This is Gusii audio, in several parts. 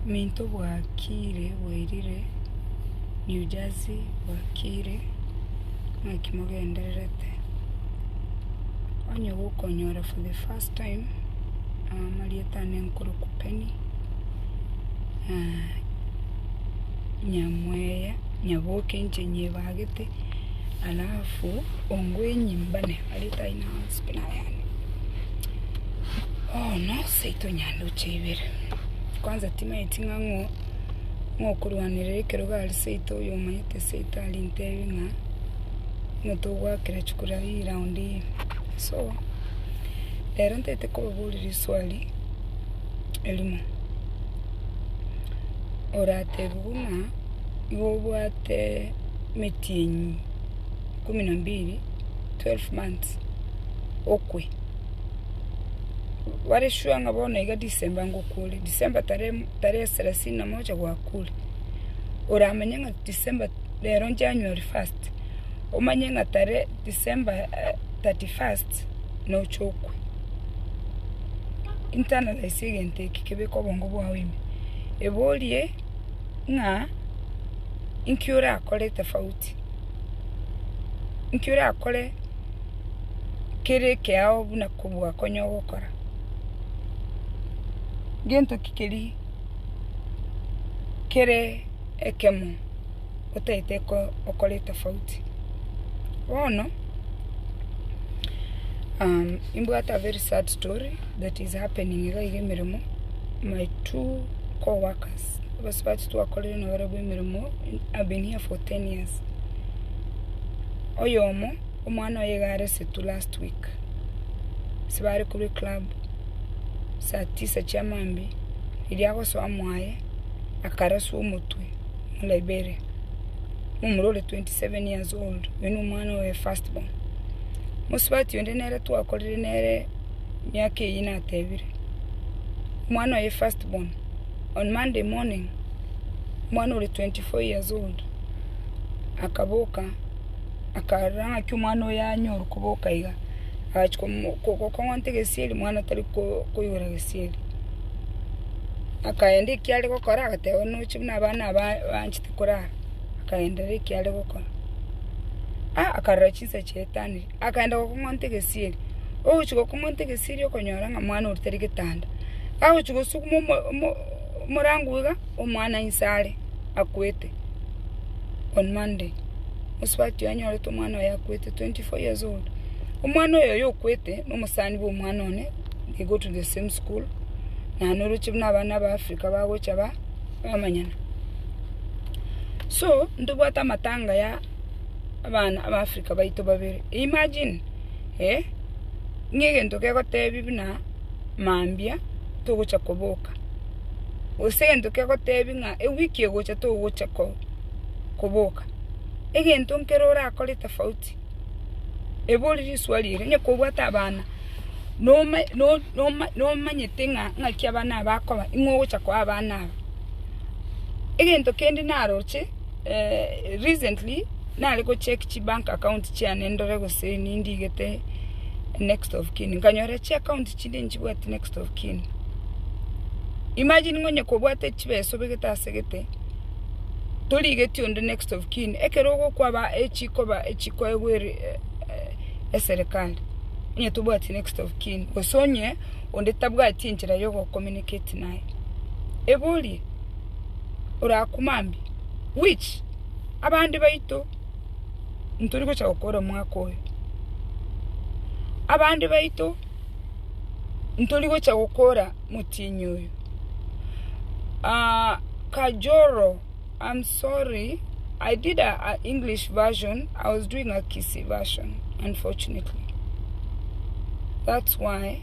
Minto bwakiire bwairire New Jersey bwakiire naki mogendererete onye gokonyora for the first time amarieta ane nkoroku Penny nyamweya nyaboke inche nyebagete alafu ongwenyie mbane. areta aino onsi buna ayande. Bono seito nyanduche ibere, kwanza timanyeti ng'a ng'o ng'okorwanerera ekerogo are seito oyo omanyete seito aria ntebie ng'a nigo togoakera chikura ii round ii. So, rero ntagete kobaboria riswali erimo, oratebie buna igo obwate emetienyi. ikomi na mbiri, twelve months, okwe. Bare sure ng'a bono iga December ngokwore, December tarehe mo- tarehe selasini na moja gwakwore. Oramanye ng'a December rero January first, omanye ng'a tarehe December thirty first nocha okwe. Internalize egento eke kebeke obongo bwao ime. Eborie ng'a inki orakore tofauti. Inki orakore kere ekeao buna kobua konya ogokora? Gento ki keria kere ekemo otaete okore tofauti? Bono imbwate a very sad story that is happening iga iga emeremo, my two co-workers. abasubati twakorire nabarabwo emeremo have been here for 10 years oyomo omwana oye iga are setu last week ase bare korwa eclub saa tisa chia maambia riria agosoa mwaye akaraswa omotwe mu Liberia na omorwre ore 27 years old oyo no omwana oye first born mosubati onde nere twakorire nere emiaka eyio natebire omwana oye first born. On Monday morning, omwana oria 24 years old akaboka, akarora ng'aki omwana oyo anyorwa koboka iga, agachia komo- ko- ko- kong'ota egesieri omwana tari ko- koigwera gesieri. Akaenda ekio are gokora agateba buna oche buna abana aba banchete korara, akaenderera ekio are gokora. Ah akarora chinsa chiaetanire. akaenda gokong'onta egesieri. Ogochia gokong'onta egesieri okonyora ng'a omwana oria tari getanda. Agochia gosuguma omo- omo- omorango iga, omwana inse are, akwete, on monday. Mosubati oyo anyorete omwana oye akwete, twenty four years old. Omwana oyo oyo okwete, na omosani bwa omwana one, they go to the same school, naende oroche buna abana ba Africa bagocha ba- bamanyana. So, ntobwate amatanga ya. abana aba Africa baito babere, imagine eh, ng'a egento kegotebia buna mambia togocha koboka, gose egento kegotebia ng'a ewiki egocha togocha koboka, egento nkere orakore tofauti, ebe ore risuari ere, onye kobwate abana, noma noma nomanyete ng'a ng'aki abana aba bakoba, ing'ogocha koa abana aba. Egento kende naroche. Recently nare go check chi bank account chiane ndore gose nindigete next of kin, nkanyora chi account chinde nchibwati next of kin. Imagine ng'onye kobwate chibesa obegete ase gete, torigeti onde next of kin, ekero ogokwaba echikoba echikoegwa eserikali, onye tobwati next of kin, gose onye onde tabwati enchera yogo communicate naye. Eborie. orakumambia, which abande baito ntori gocha gokora omwaka oyo, abande baito ntori gocha gokora motienyi oyo. kajoro am sorry I did a English version I was doing a Kisii version unfortunately that's why.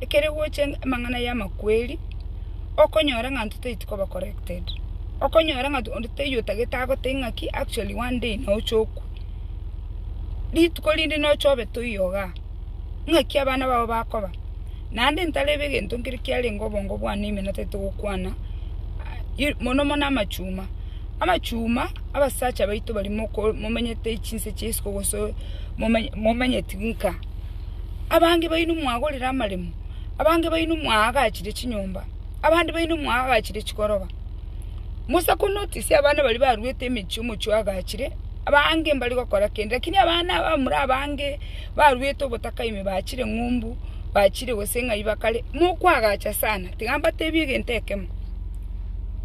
ekere gocha amang'ana y'amakweri, okonyora ng'a intwe tari koba corrected. Okonyora ng'a onde taiyo otagete agotebie ng'aki actually one day nocha okwa. Rituko rinde nocha obe toiyo igaa, ng'aki abana bao bakoba. Naende ntarebe egento nkere kiarenge obongo bwane ime natari togokwana, mono mono amachuma. Amachuma, abasacha baito baria momenyete chinse chia isiko gose momenyeti nka. Abange baino mwagorire amaremo, abange baino mwaagachire chinyomba, abande baino mwaagachire chigoroba. Musa konotice abana baria baruete emechie omochie oagachire, abange mbari gokora kende, lakini abana abamura abange baruete obotaka ime bachire ng'umbu, bachire gose ng'ai bakare, mokwagacha sana, tiga mbatebie egento ekemo,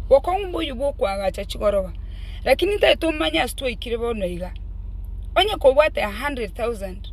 bokong'umba oyio bwokwagacha chigoroba, lakini ntari tomanye ase twaikire bono iga, onye kobwate a hundred thousand.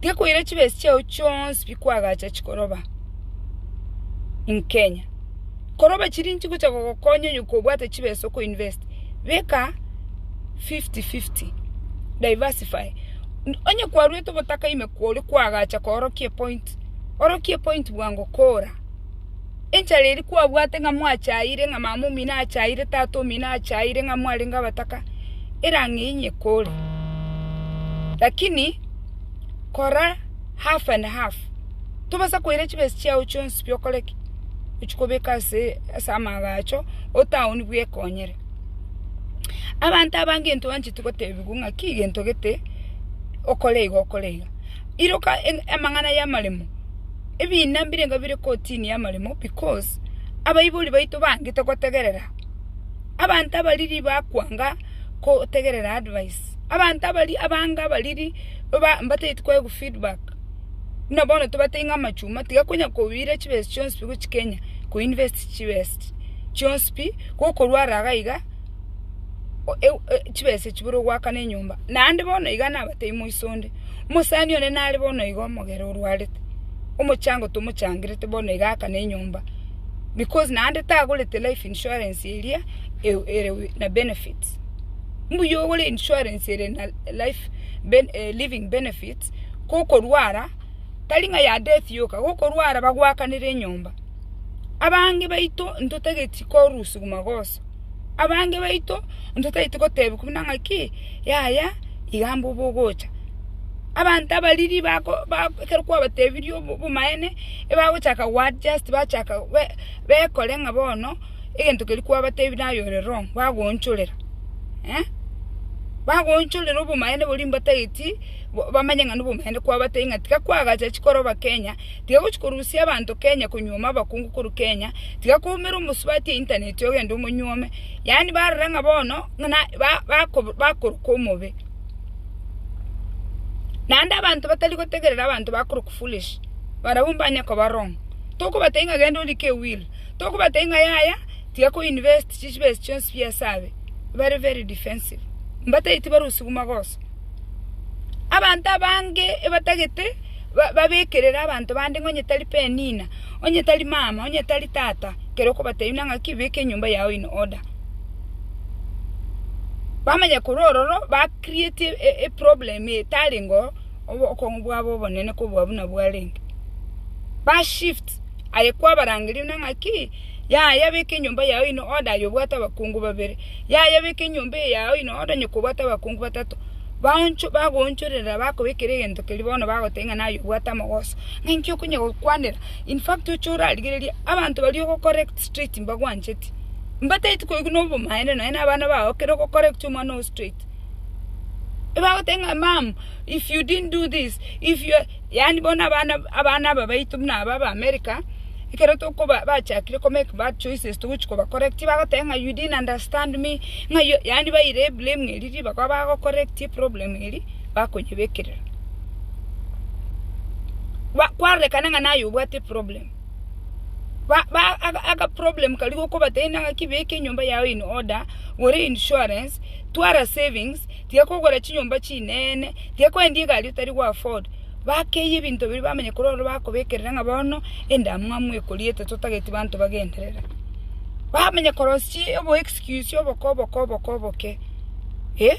Tiga koira chibesi chiao chionsi bikwagacha chikoroba in Kenya. Koroba chiri nichigocha gogokonya onye kobwate chibesa oko invest, beka fifty fifty, diversify. Onye kwarwete obotaka ime kore kwagacha koorokia epointi, orokia epointi bwango kora. Enchara eria kwabwate ng'a mwachaire, ng'a mama omino achaire, tata omino achaire, ng'a mwarenge abataka, erang'ei nyekore. Lakini kora half and half, tobasa koira chibesa chiao chionsi pi okore ki? Ochia kobeka ase ase amagacho, otown bwekonyere. Abanto aba ngento bancheti gotebiwa ng'a ki gento gete, okore igo okore iga. Iroka amang'ana y'amaremo. Ebiina mbirenga bire kotini y'amaremo because abaibori baito bangete gotegerera. Abanto abariri bakwanga gotegerera advice. Abanto abaria abange abariri baba mbatagete koegwa koegwa feedback. Buna bono tobatebia ng'a amachuma tiga konya koira chibesa chionsi pi gochia Kenya ko invest chibest chionsi pi gokorwa ara iga iga chibesa echi buna ogwakana enyomba. Naende bono iga nabatebia moise onde. Omosani one nare bono igo omogere orwarete, omochango tomochangerete bono iga aka ne enyomba because naende tagorete life insurance eria ere na benefits. Mbuya ogore insurance ere na life living benefits kokorwara tari ng'a ya death yoka, kokorwara bagoakanere enyomba. Abange baito ntotageti korwa usiku magoso. Abange baito onto taeti gotebia buna ng'aki, yaya iga mbu bogocha. Abanto abariri bako bako ekero kwabatebirie obo obomaene, ebagochaka go adjust bachaka be bekore ng'a bono egento keria kwabatebia naye ore wrong, bagoonchorera eh, bagoonchorera obomaene boria mbatageti bo bamanye ng'a nobomaene kwabatebia ng'a tiga kwagacha chikoroba Kenya. Tiga gochia korusia abanto Kenya konyuoma abakungu korwa Kenya tiga koumera omosubati eintaneti ogende omonyuome yaani barore ng'a bono ng'na bakoroka omobe naende abanto batari gotegerera abanto bakoroka foolish barabwo mbanye koba wrong tokobatebi ng'a genda orike ewil tokobatebi ng'a yaya tiga ko invest chibesa chionsi biesabe very very defensive mbatagete barusigwe magoso. Abanto abange ebatagete babekerere abanto bande ng'a onye tari penina, onye tari mama, onye tari tata, ekero okobatebia buna ng'aki beka enyomba yao in order. Bamanya korwa ororo ba create eproblem etarengeo obokong'u bwabo obonene kobua buna bwarenge, ba shift aye kwabarangeria buna ng'aki. Yaya, beka enyomba yao ime ode aye obwate abakungu babere. Yaya, beka enyomba eye yao ime ode onye kobwate abakungu batato, baoncho bagoonchorera bakobekera egento keria bono bagotebia ng'a naye obwate amogoso. Ng'a inki okonya gokwanera? In fact oche orarigereria abanto baria ogocorrect straight mbagwancheti. Mbataeti koigwa na obomaene nonye na abana bao ekero ogocorrect omwana oo straight. Ebagotebia ng'a mum, if you didn't do this, if you are yaani bono abana abana aba baito buna aba ba America. ekero tokoba bachakire ko make bad choices togochia koba correct bagoteba ng'a you didn't understand me ng'a you yaani baire eblame eria ribaga bago correct eproblem eria bakonyebekerera ba kwarorekana ng'a naye obwate eproblem ba ba aga agaproblem karia gokobateneina ng'aki beka enyomba yago in order gora einsurance twara savings tiga kogora chinyomba chinene tiga kwendi egari otari go afford. Bakeiya ebinto biria bamanya korwa ororo bakobekerera ng'a bono endamwamu ekoriete totageti banto bagenderere. Bamanya korosia obo excuse oboko oboko oboko oboke. Eh,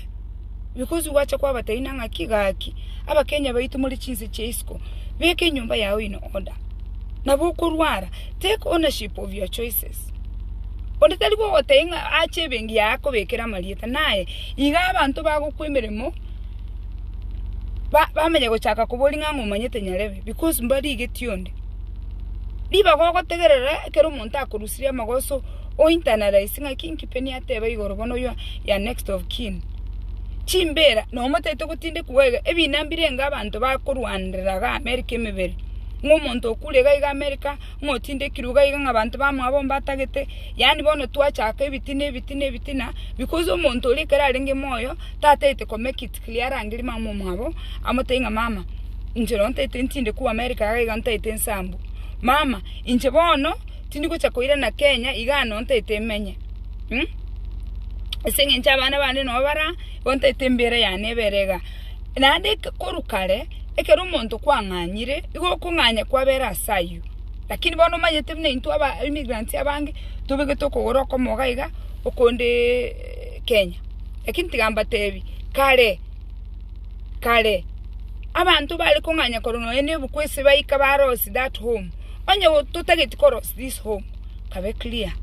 because gwacha kwabatebi nang'a ki gaki, abakenya baito more chinse chia isiko, beka enyomba yao in order. Nabo okorwara, take ownership of your choices. Onde tari gogotebi ng'a ache ebenki yago akobekere amarieta, naye iga abanto bagokoa emeremo. ba- bamanye gochaka koboria ng'a ng'a omanyete nyarebe, because mbarigetie onde. Ribaga ogotegerera ekero omonto akorusirie amagoso, o internalise ng'a ki inki Penny ateba igoro bono oyio ya next of kin. Chimbera, nabo motagete gotindekwa iga, ebina mbirenge abanto bakorwanera iga America emebere, ng'a omonto okure iga iga America. Motindekirwe iga iga ng'a banto bamwabo mbatagete, yaani bono twachaka ebitina, ebitina, ebitina, because omonto oria ekero arenge moyo tataete ko make it clear arangeri mama omwabo, amotebi ng'a mama, inche no ntaete ntinde ku America iga iga ntaete nsambu, mama, inche bono tindi gocha koirana Kenya igaa no ntaete menye, ase eng'encho abana bande no bara. Ontaete embeera yane ebere iga, naende korwa kare ekero omonto kwang'anyire, igo okong'anya kwabere ase ayio. Lakini bono omanyete buna intwe aba immigrants abange, tobegete okogora okomoga iga, okonde Kenya. Lakini tiga mbatebi, kare, kare, abanto bare kong'anya korwa nonya nebuku ase baika barosie that home, onye totageti korosia. this home kabe clear.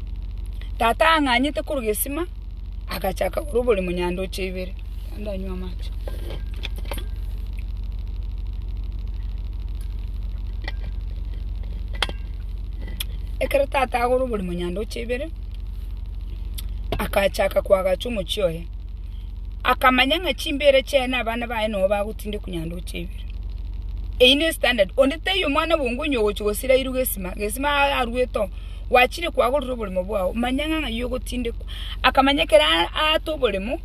Tata ang'anyete korwa gesima, agachaka korwa oborimo nyandoche ibere. Ndanywa amache. Ekero tata agora oborimo nyandoche ibere, akachaka koagacha omochie oye. akamanya ng'a chimbeera chiaye na abana baye nobo bagotindekwa nyandoche ibere. Eyio ne standard, onde taiyo omwana bwongo onye ogochia gosira iru gesima, gesima a- aruete oo, gwachire kwagorire oboremo bwao, manya ng'a ng'ai ogotindekwa. Akamanya ekero a- aata oboremo,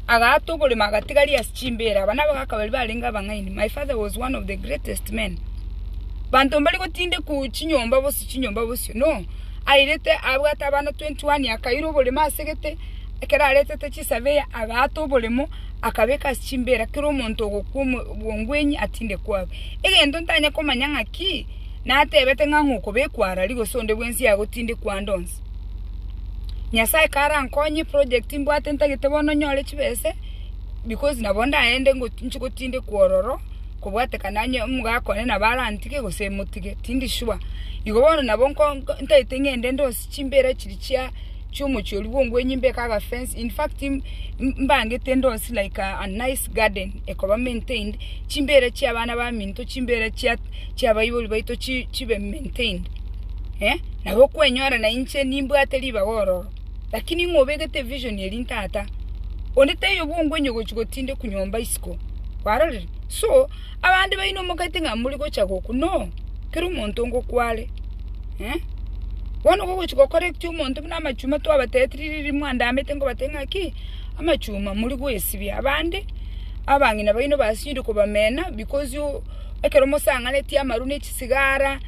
agaata oboremo agatiga ria ase chimbeera, aba nabo ga kabere barenge abang'aini, my father was one of the greatest men. Banto mbari gotindekwa chinyomba bosi chinyomba bosio, no, airete abwate abana twenty one akaira oboremo ase egete. ekero aretete chisabeya agaata oboremo, akabeka ase chimbeera kera omonto ogokwa obongwenyi atinde kwabu. Egento ntanye komanya ng'aki natebete ng'a ng'okobekwa arari gose onde bwensi agotindekwa ande onsi. Nyasaye karankonye project mbwate ntagete bono nyore chibese because nabo ndaende nchi gotindekwa ororo kobwatekana onye omogaka one nabo arantige gose emotige tindi sure. Igo bono nabo ntagete ng'ende ande onsi. Chimbeera chiri chia chiomochie oria bw'ongwenyi mbeke agafence, in fact mbangete endosi like a nice garden ekoba maintained, chimbeera chia abana baminto, chimbeera chia chia abaibori baito chi chibe maintained eh, nabo okwenyora na inche nimbwate ribaga ororo. Lakini ng'a obegete vision eria ntata, onde taiyo bw'ongwenyi ogochi gotindekwa nyomba isiko, kwarorire? So. Abande baino mogaita ng'a muri gocha gokwa no kera omonto ngokwa are. Bono gogochi gokora ekiya omonto buna amachuma twabatetiri riria mwandamete nkobate ng'a ki? Amachuma muri goesibia abande abang'ina baino basinyire kobamena because ekero mosang'aneti amaru ne chisigara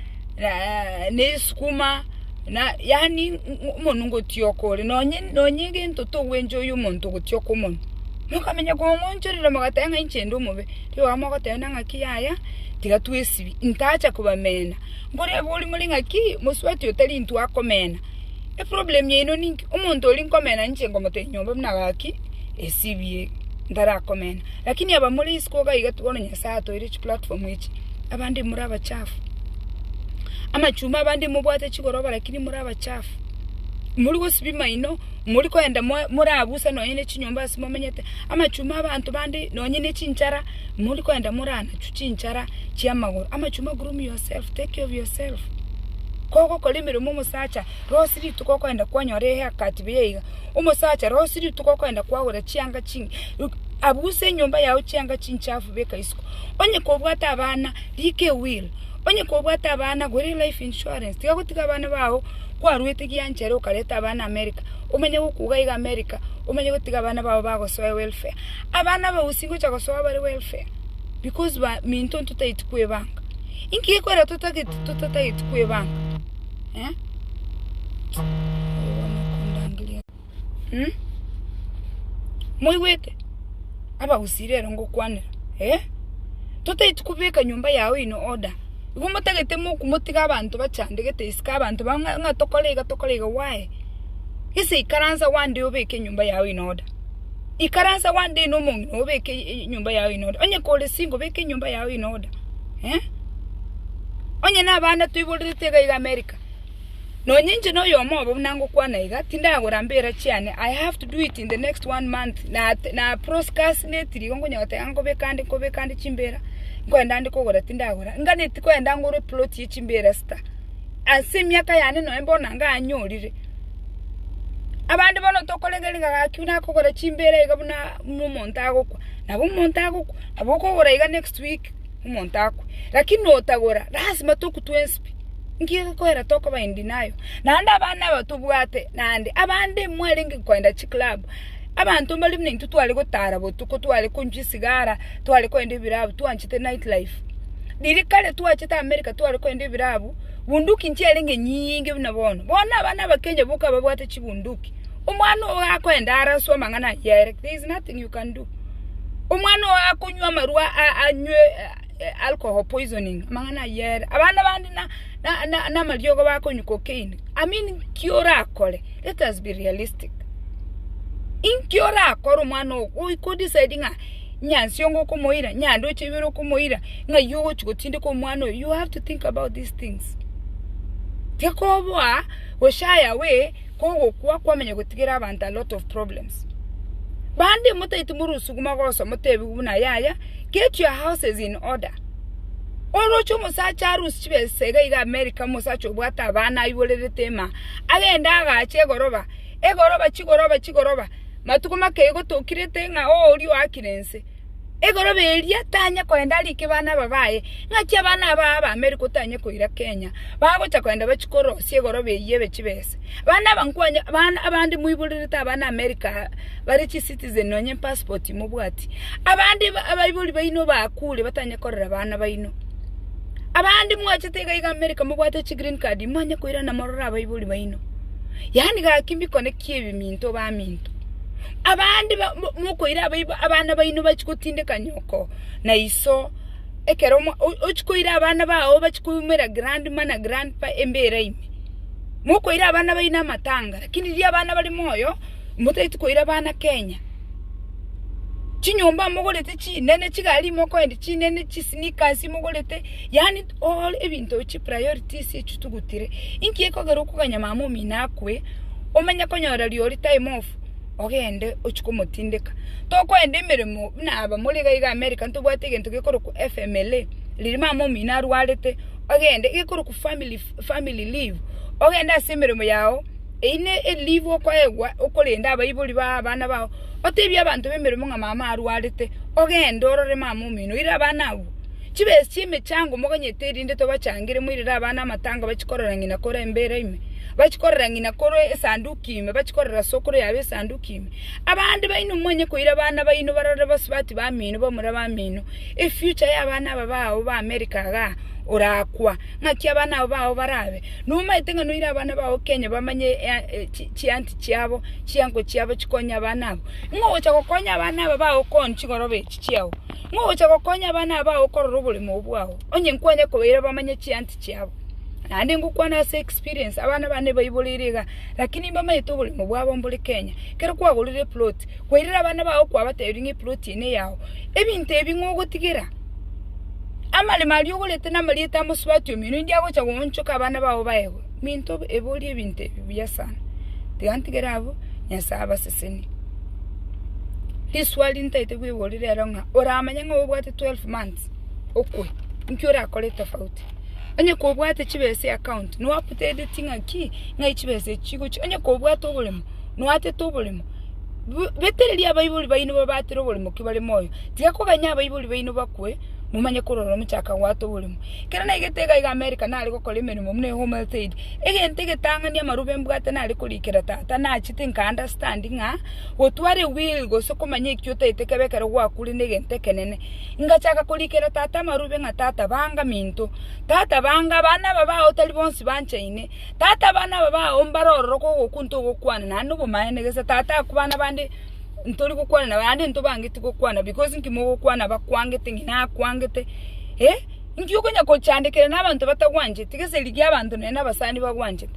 ne esukuma na yaani omonu ngotioka ore nonye nonye gento togwenchoyia omonto ogotioka omonu. Mokamenya kong'onchorera mogateba ng'a inche inde omobe. Igo mogoteena ng'aki yaya, tiga twesibie, intaacha kobamena. Nkorebe oria more ng'aki, mosubati otari intwe akomena. Eproblem yaino ninki? Omonto oria nkomena ninche nkomotebia nyomba buna gaki, esibie, ntarakomena. Lakini aba more isiko iga iga bono Nyasaye atoeire chiplatform echi, abande more abachafu. Amachumba abande mobwate chigoroba lakini more abachafu. Morigosibia maino. Mori koenda morabuse nonye ne chinyomba ase momenyete, amachuma abanto bande nonye ne chinchara, mori koenda moranachwe chinchara chi'amagoro. Amachuma groom yourself, take care of yourself. Kogokora emeremo omosacha, rosie rituko okoenda kwanyora e hair cut buya iga, omosacha rosie rituko okoenda kwagora chianga chinge, abuse enyomba yago chianga chinchafu beka isiko. Onye kobwate abana, rika ewill. Onye kobwate abana gore life insurance tiga gotiga abana bao kwarwete gianchere okareta abana America omenye gokuga iga America omenye gotiga abana bao bagosoe welfare. Abana aba gose ngocha gosoa bare welfare because ba minto ntotaeti kwebanga. Inki gekorera totageti totatageti kwebanga? Mh, moigwete? Abagusii rero ngokwanera, eh, totaeti kobeka nyomba yago in order, igo motagete moku motiga abanto bachandegete isiko abanto bao ng'a ng'a tokore iga tokore iga why? Gese ikaransa one day obeke enyomba yago in order, ikaransa one day na omong'ina oo obeke e- enyomba yago in order, onye kore single beka enyomba yago in order, eh. Onye na abana toiborerete iga iga America. Nonya inche noyomo obo buna ngokwana iga, tindagora mbera chiane, I have to do it in the next one month, na na proscastinate rigo nkonyora goteba iga nkobeka ande nkobeka ande chimbera, nkoenda ande kogora tindagora, nganeti koenda ngore eploti ya chimbera esita, ase emiaka yane nonye bono nanga anyorire. Abande bono tokorengeria ng'a gaki buna akogora chimbera iga buna buna omonto agokwa, nabo omonto agokwa, nabo okogora iga next week. omonto akwe, lakini notagora lasima tokutwe enswe nki egekoera tokoba in denial naende abana aba tobwate naende abande mwarenge koenda chiclub abanto mbare buna intwe tware gotara botuko tware konchwa esigara tware koenda ebirabu twanchete night life riria kare twachete america tware koenda ebirabu bunduki nchiarenge nyiinge buna bono bono abana aba kenya boka babwate chibunduki omwana ogo akoenda araswe amang'ana ayio aye like there is nothing you can do. Omwana oyo akonywa amarwa anywe alcohol poisoning amang'ana ayio ere. Abana bande na na na namariogo bakonywa cocaine. I mean ki orakore? Let us be realistic. Inki orakore omwana ogo goika odecide ng'a nyansi onga okomoira, nyandoche ibere okomoira, ng'ai ogochi gotindeka omwana oyo, you have to think about these things. Tiga koboa oshare away. kogokwa kwamenye gotigera abanto a lot of problems. Bande motaeti morosuguma gosa motebigu buna yaya get your houses in order. Oroche omosacha arusie chibesa iga iga America omosacha obwate abana aiborerete ema agende agache egoroba, egoroba chigoroba chigoroba matuko make egotokirete ng'a oo oria oakire ense. Egorobi eria tanye koenda arike bana aba baye, ng'aki abana aba abameri kotanye koira Kenya, bagocha koenda bachie korosia egorobi eyio ebe chibese. Bana aba nkwanye, bana abande moiborerete abana America aa, bare chicitizen nonye passport mobwati. Abande ba abaibori baino bakure batanye korera bana baino. Abande mwachete iga iga America mobwate chigreen card, imanye koirana morore abaibori baino. Yaani gaki mbikoneki. ki'ebiminto baminto. Abande mokoira abaibo abana baino bachie gotindeka nyoko na iso, ekero ochie koira abana bao bachie koumera grandma na grandpa embeera ime. Mokoira abana baino amatanga lakini riria abana bare moyo motagete koira abana Kenya. Chinyomba mogorete chinene, chigari mokoenda chinene, chisneakers mogorete yaani. All ebinto ebi chipriorities echi tugutire, inki ekogera okoganya mama omino akwe, omenye konyora riori time off, ogende ochie komotindeka. Tokoenda emeremo buna aba more iga iga America ntobwate egento gekorokwa FMLA, riria mama omino arwarete, ogende egekorokwa family family leave, ogende ase emeremo yago, eyio ne e leave okoegwa okorenda abaibori ba abana bao, otebie abanto bemeremo ng'a mama arwarete, ogende orore mama omino, oire abana abwo. Chibesi chi'emechango moganyete erinde tobachangere moirere abana amatango bachikorera ng'ina kore embeera ime, bachikorera ng'ina kore esanduki ime, bachikorera as'okoro yabo esanduki ime. Abande baino mwanye koira abana baino barore bosubati bamino bamura bamino, efuture y'abana aba bao ba America igaa orakwa ng'aki abana aba bao barabe. Nomaete ng'a noire abana bao Kenya bamanye chianti chiabo, chiango chiabo chikonye abana abo. Ng'ogocha gokonya abana aba bao koni chigoroba echi chiao. Ng'a ogocha gokonya abana abao okorora oboremo bwao, onye nkwanye kobaira bamanye chiansi chiabo. Naende ngokwana ase experience, abana bane baiboreire iga, lakini mbamanyete oboremo bwabo mbore Kenya. Ekero kwagorire eplot, kwairire abana bao kwabatebirie ng'a eplot eye neyao. Ebinto ebi ng'a ogotigera, amaremo aria ogorete na amarieta ya mosubati omino india agocha goonchoka abana bao baegwe. Minto, ebori ebinto ebi buya sana. Tiga ntigere abwo, Nyasae abasesenie. Riswali ntaete kwigora rero ng'a oramanye ng'a obwate 12 months okwe inki orakore tofauti. Onye kobwate chibesa eaccount noo updateti ng'a ki? Ng'ai chibesa echi chigochia? Onye kobwate oboremo noo atete oboremo bu- betereria abaibori baino babatera oboremo ki bare moyo. Tiga koganya abaibori baino bakwe momanye korora omochaka goata oboremo. Ekero naigete iga iga America nare gokora emeremo buna eHome Health Aid, Egento egetang'ani amaroba mbwate nare korikera tata nachete nka understand ng'a gotware will gose komanya ekio otaete kebe ekero gwakure negento ekenene. Ngachaka korikera tata amarobe ng'a tata banga minto, tata banga abana aba bao tari bonsi banchaine, tata abana aba bao mbare ororo kogokwa ntogokwana naende nobomaene gese tata aku bana bande ntori gokwana nabo naende ntobangeti gokwana because nki mogokwana bakwangete ng'ina akwangete eh. Inki okonya kochandekera nabanto batagwancheti gese rigia abanto nonye nabasani bagwanchete?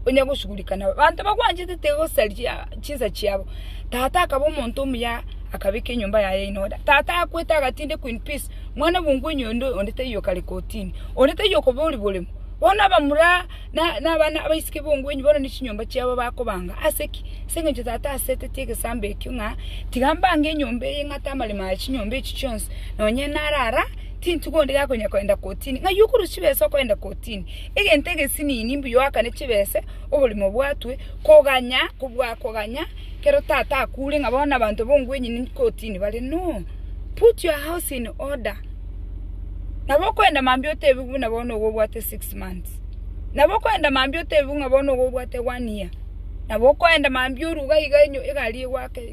Onya gosugurika nabo. Abanto bagwanchete tigosaria chinsa chiabo. Tata akaba omonto omuya akabeka enyomba yaye in order. Tata akwete agatinde Queen Peace, mwana bwongwa onya onde onde taiyo okare kotini. Onde taiyo okoba ori boremo. Bono abamura na na abana abaiseke bongwa enywo bono ne chinyomba chiabo bakobanga. Ase ki? Ase eng'encho tata aseteti egesambo ekio ng'a tiga mbange enyomba eye ng'ata amaremo aye chinyomba echi chionsi nonye narara. Tintugo onde gakonya koenda kotini, ng'ai okorwa chibesa okoenda kotini? Egento egesinini mbuya oakane chibese oborimo bwatwe, koganya kobua koganya kero tata akure ng'a bono abanto bongwenyini kotini bare no! Put your house in order nabo okoenda mambia otebiwe buna bono igo obwate six months, nabo okoenda mambia otebiwe ng'a bono igo obwate one year, nabo okoenda mambia oruge iga enyo egari egoake.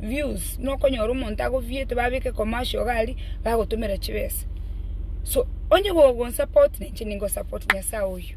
views, nokonyora omonto ago viewete babeke commercial iga aria, bagotomera chibesa. So, onye gogo support na inche ningo support Nyasae oyio.